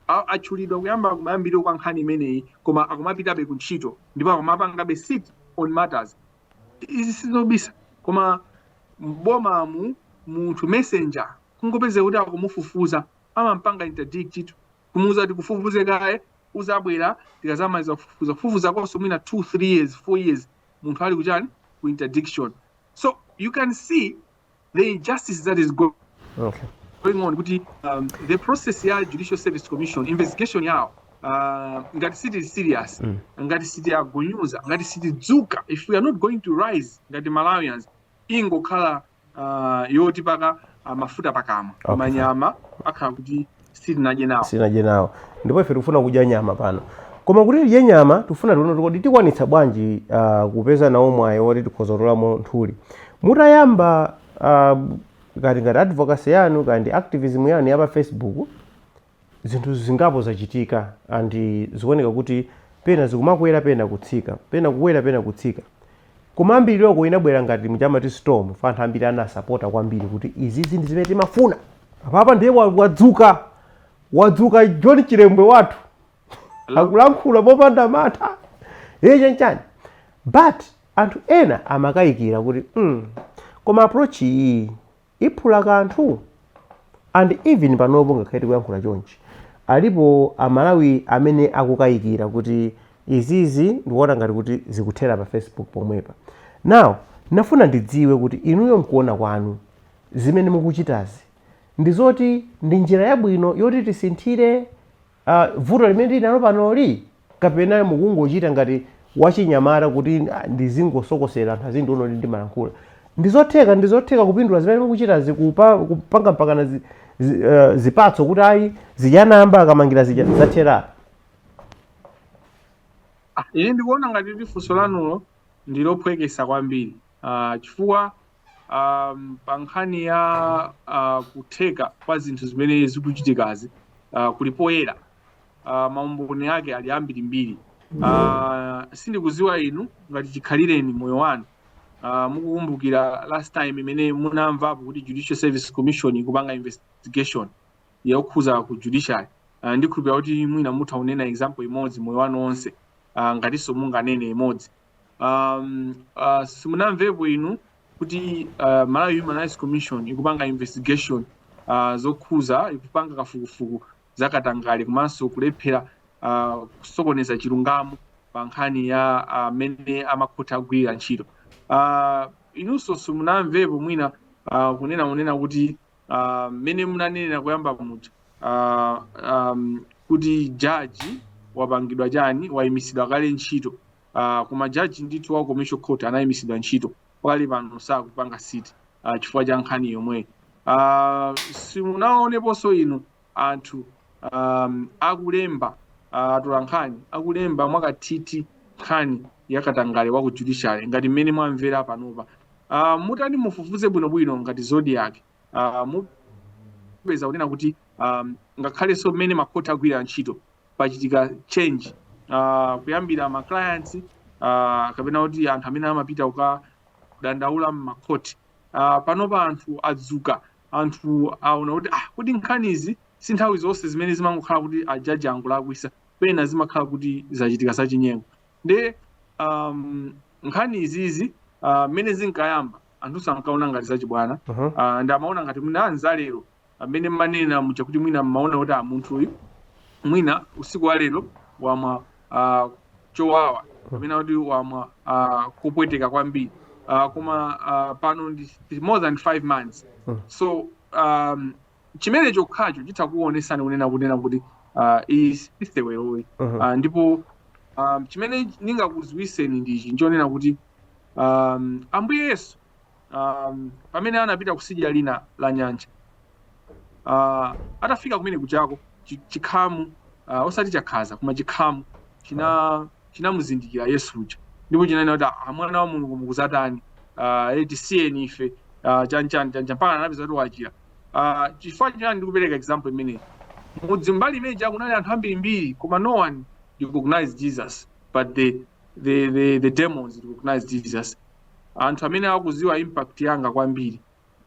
ah, atchulidwa kuyamba kumayambiriro kwa nkhani imeneyi koma akumapitabe ku ntchito ndipo akumapangabe sit on matters izi sizobisa koma mbomamu munthu messenger kungopezeka kuti akumufufuza amampanga interdict kumuuza kuti tikufufuze kaye uzabwera tikazamaliza kufufuza kufufuza konso mwina 2 3 years 4 years munthu ali kuchani ku interdiction so you can see the injustice that is go- okay. going on kuti um, the process ya judicial service commission investigation yawo uh, ngati sitili serious Mm. ngati sitiagunyuza ngati sitidzuka if we are not going to rise ngati malawians ingokhala uh, yotipaka uh, mafuta pakamwa Okay. manyama akhala kuti sitinadye nawo sitinadye nawo ndipo ife tikufuna kudya nyama pano koma kuti tidye nyama tikufuna tione kuti kodi tikwanitsa bwanji uh, kupeza nawo mwayi woti tikhoza kutolamo nthuli mutayamba uh, ngati ngati advocacy yanu kaya ndi activism yanu ya pa facebook zinthu zingapo zachitika and zikuoneka kuti pena zikumakwera pena kutsika pena kukwera pena kutsika Kumayambiliroko inabwera ngati muja amati storm chifukwa anthu ambiri anasapota kwambiri kuti izizi ndi zimene timafuna. Apapa ndiye wadzuka, wadzuka John Chilembwe wathu akulankhula mopanda mantha ee chanchani but anthu ena amakayikira kuti mm koma approach iyi iphula kanthu and even panopo ngakhale tikuyankhula chonchi alipo amalawi amene akukayikira kuti izizi ndikuona ngati kuti zikuthera pa facebook pomwepa now nafuna ndidziwe kuti inuyo mkuona kwanu zimene mukuchitazi ndi zoti ndi njira yabwino yoti tisinthire a vuto limene tili nalo panoli kapena mukungochita ngati wachinyamata kuti "Ah, ndizingosokosera anthu azindiona kuti ndimalankhula ndizotheka ndizotheka kupindula zimene mukuchitazi kupa- kupanga mpakana zi, zi, eh, zipatso kuti ayi zija munkamangira zija zathera Ah, ine ndikuona ngati kuti funso lanulo ndilophwekesa kwambiri Ah, chifukwa um, pa nkhani ya uh, kutheka kwa zinthu zimene zikuchitikazi uh, kuli poyera uh, maumboni ake ali ambirimbiri uh, sindikuziwa inu ngati chikhalireni moyo wanu uh, mukukumbukira last time imene munamvapo kuti judicial service commission ikupanga investigation yokhuza ku judiciary uh, ndikhulupira kuti mwina mutha kunena example imodzi moyo wanu onse uh, ngatinso munganene imodzi um, uh, simunamvepo inu kuti uh, malawi human rights commission ikupanga investigation uh, zokhuza ikupanga kafukufuku za katangale komanso kulephera uh, kusokoneza chilungamo pa nkhani ya amene uh, amakhothi agwirira ntchito uh, inunso simunamvepo mwina uh, kunena kunena kuti ah, mmene munanenera koyamba muja ah, um, kuti jaji wapangidwa chani wayimitsidwa kale ntchito ah, koma jaji ndithu wa commercial court anayimitsidwa ntchito pakali pano sakupanga sit ah, chifukwa cha nkhani yomweyi ah, simunaoneponso inu anthu um akulemba uh, atolankhani akulemba mwakathithi nkhani ya katangale wa ku judiciary ngati mmene mwamvera panopa uh, mutati mufufuze bwinobwino ngati zodiak uh, mupeza kunena kuti um, ngakhalenso mmene makhoti agwira ntchito pachitika change uh, kuyambira ma clients uh, kapena kuti anthu amene amapita kukadandaula m'makhoti uh, panopa anthu adzuka anthu aona kuti ah kodi nkhanizi si nthawi zonse zimene zimangokhala kuti ajaji angolakwisa pena zimakhala kuti zachitika zachinyengo nde um, nkhani izizi ah, mmene zinkayamba anthunso ankaona ngati zachibwana Mhm. uh, ndi amaona ngati mwina anza lero amene mmanena muja kuti mwina mmaona kuti ah munthu uyu mwina usiku wa lero wamwa uh, chowawa kapena kuti wamwa uh, kupweteka kwambiri uh, koma uh, pano ndi ndi more than five months Mm. so um, chimene chokhacho chitha kuonesani kunena kunena kuti uh, iyi si seweroyi Mhm. uh, ndipo um, chimene ndingakudziwiseni ndichi nchonena kuti um, ambuye yesu um, pamene anapita kusidya lina la nyanja uh, atafika kumene kujako chikhamu uh, osati chakhaza koma chikhamu china chinamuzindikira yesu uja ndipo chinanena kuti ah, mwana wa mulungu mukuzatani uh, tisiyeni ife uh, chanchani chanchani mpaka anapeza kuti wachira uh, chifukwa chani ndikupereka example imeneyi mudzi mbali imene ija kunali anthu ambirimbiri koma no one recognized jesus but the the, the, the demons recognize jesus anthu amene akuziwa impact yanga kwambiri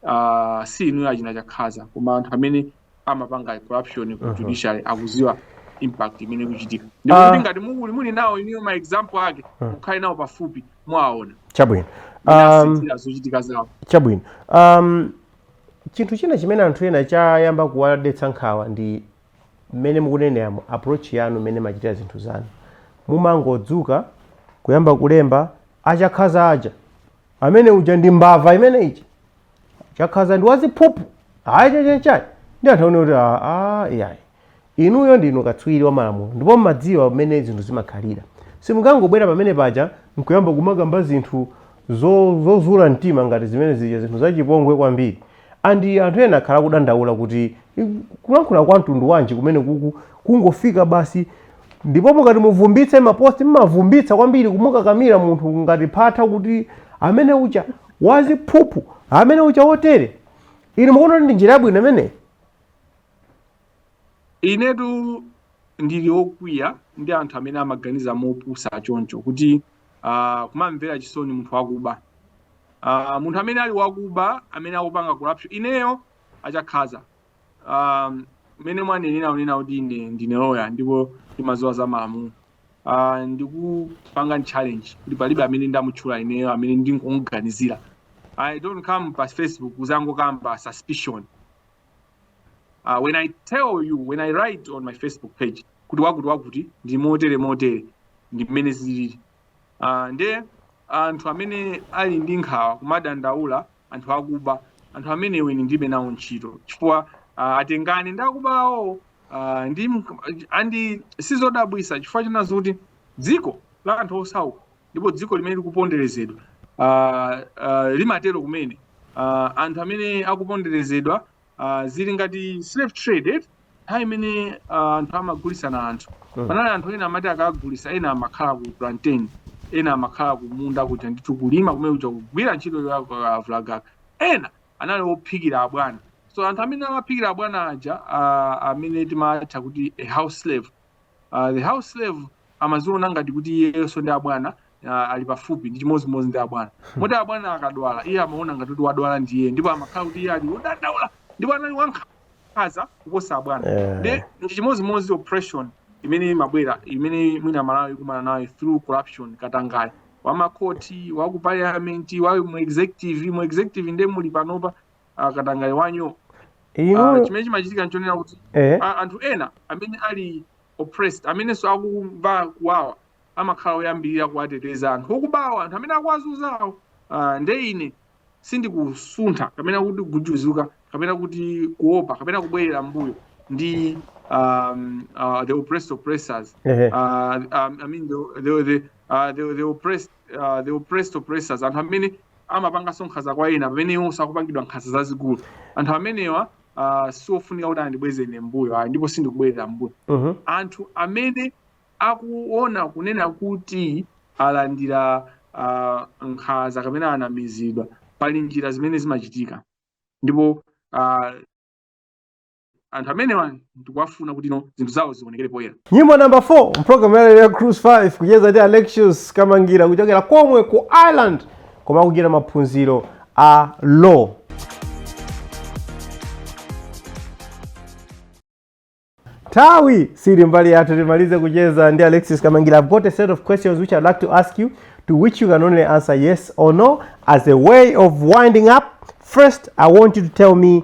uh, si inuyo achina chakhaza koma anthu amene amapanga corruption ku judiciary akuziwa impact imene ikuchitika ndipo Ah. kuti ngati muli muli nawo inuyo ma example ake mukhale nawo pafupi mwaona chabwino um, imasinthira zochitika zawo chabwino um, chinthu china chimene anthu ena chayamba kuwadetsa nkhawa ndi mmene mukuneneramu approach yanu mmene machitira zinthu zanu mumangodzuka kuyamba kulemba achakhaza uja amene uja ndi mbava imene ija chakhaza ndi waziphuphu ayi chakuti chakuti ndi anthu amene kuti "Ah, ah, iyayi inuyo ndinu katswiri wa malamulo ndipo mmadziwa mmene zinthu zimakhalira simungangobwera pamene paja nkuyamba kumakamba zinthu zo- zozula mtima ngati zimene zija zinthu zachipongwe kwambiri And anthu ena akhala akudandaula kuti kulankhula kwa mtundu wanji kumene kuku kungofika basi ndipo mukati muvumbitse maposti mmavumbitsa kwambiri kumukakamira munthu ngati phatha kuti amene uja waziphuphu amene uja wotere inu mukuona kuti ndi njira yabwino imeneyi inetu ndili okwiya ndi anthu amene amaganiza mopusa choncho kuti uh, kumamvera chisoni munthu wakuba uh, munthu amene ali wakuba amene akupanga corruption ineyo achakhaza um, mmene mwanenera kunena kuti ine ndine loya ndipo ndimaziwa za malamulo uh, ndikupanga challenge kuti palibe amene ndamutchula ineyo amene ndingomuganizira i don't come pa facebook kuzangokamba suspicion uh, when i tell you when i write on my facebook page kuti wakuti wakuti ndi motere motere ndi mmene zilili uh, nde anthu amene ali ndi nkhawa kumadandaula anthu akuba anthu amenewo ine ndilibe nawo ntchito chifukwa uh, atengana ndi akubawo uh, ndi and sizodabwisa chifukwa china nchoti kuti dziko la anthu osauka ndipo dziko limene likuponderezedwa uh, uh, limatero kumene uh, anthu amene akuponderezedwa uh, zili ngati slave trade eti nthawi imene uh, anthu amagulisana anthu Mm. panali anthu ena amati akagulisa ena amakhala ku plantation ena amakhala kumunda kuja ndithu kulima kumene kuja kugwira ntchito yakalavulagaga ena anali ophikira abwana so anthu amene amaphikira abwana aja uh, amene timatha kuti a house slave uh, the house slave amaziona ngati kuti iyenso ndi abwana uh, ali pafupi ndi chimodzimodzi ndi abwana moti abwana akadwala iye amaona ngati kuti wadwala ndi iye ndipo amakhala kuti iye ali wodandaula ndipo anali wankhaza kuposa abwana Eh. ndi ndi chimodzimodzi oppression imene imabwera imene mwina amalawi akumana nayo through corruption katangale wamakoti waku parliament wa mu executive mu executive nde muli panopa ah, katangale wanuyo ah, inuyo chimene chimachitika nchonena kuti eh a- anthu ena amene ali oppressed amenenso akumva kuwawa amakhala oyambirira kuwateteza anthu okubawo anthu amene akuwazunzawo ah, nde ine sindikusuntha kapena kuti kujuzuka kapena kuti kuopa kapena kubwerera mbuyo ndi um, uh, the oppressed oppressors eh uh, um, I mean the the the, uh, the, the oppressed uh, the oppressed oppressors anthu amene amapanganso nkhanza kwa ena pamene iwonso akupangidwa nkhanza zazikulu anthu amenewa uh, siofunika kuti andibweze ine mbuyo ayi ndipo sindikubwerera mbuyo Mhm. anthu amene akuona kunena kuti alandira uh, nkhanza kapena anamizidwa pali njira zimene zimachitika ndipo uh, anthu amenewa ndikuwafuna kuti zinthu zawo zionekere poyera nyimbo namba 4 m'pulogalamu yalero ya cruise 5 kucheza ndi alexius kamangira kuchokera komwe ku ireland komwe akuchita maphunziro a law nthawi sili mbali yathu timalize kucheza ndi alexis kamangira i've got a set of questions which i'd like to ask you to which you can only answer yes or no as a way of winding up first i want you to tell me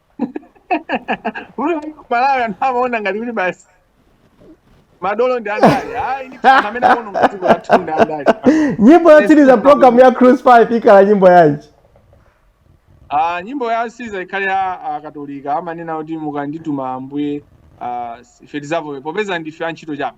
Ku Malawi anthu amaona ngati kuti basi madolo ndi andale. Ayi ndi anthu amene amaona ngati dziko lathu ndi andale. nyimbo yotsiriza m'program ya cruise 5 ikhala nyimbo yanji Ah, nyimbo yotsiriza ikhale ya akatolika amanena kuti mukandituma ambuye ah, ife tizavomere popeza ndife antchito chabe.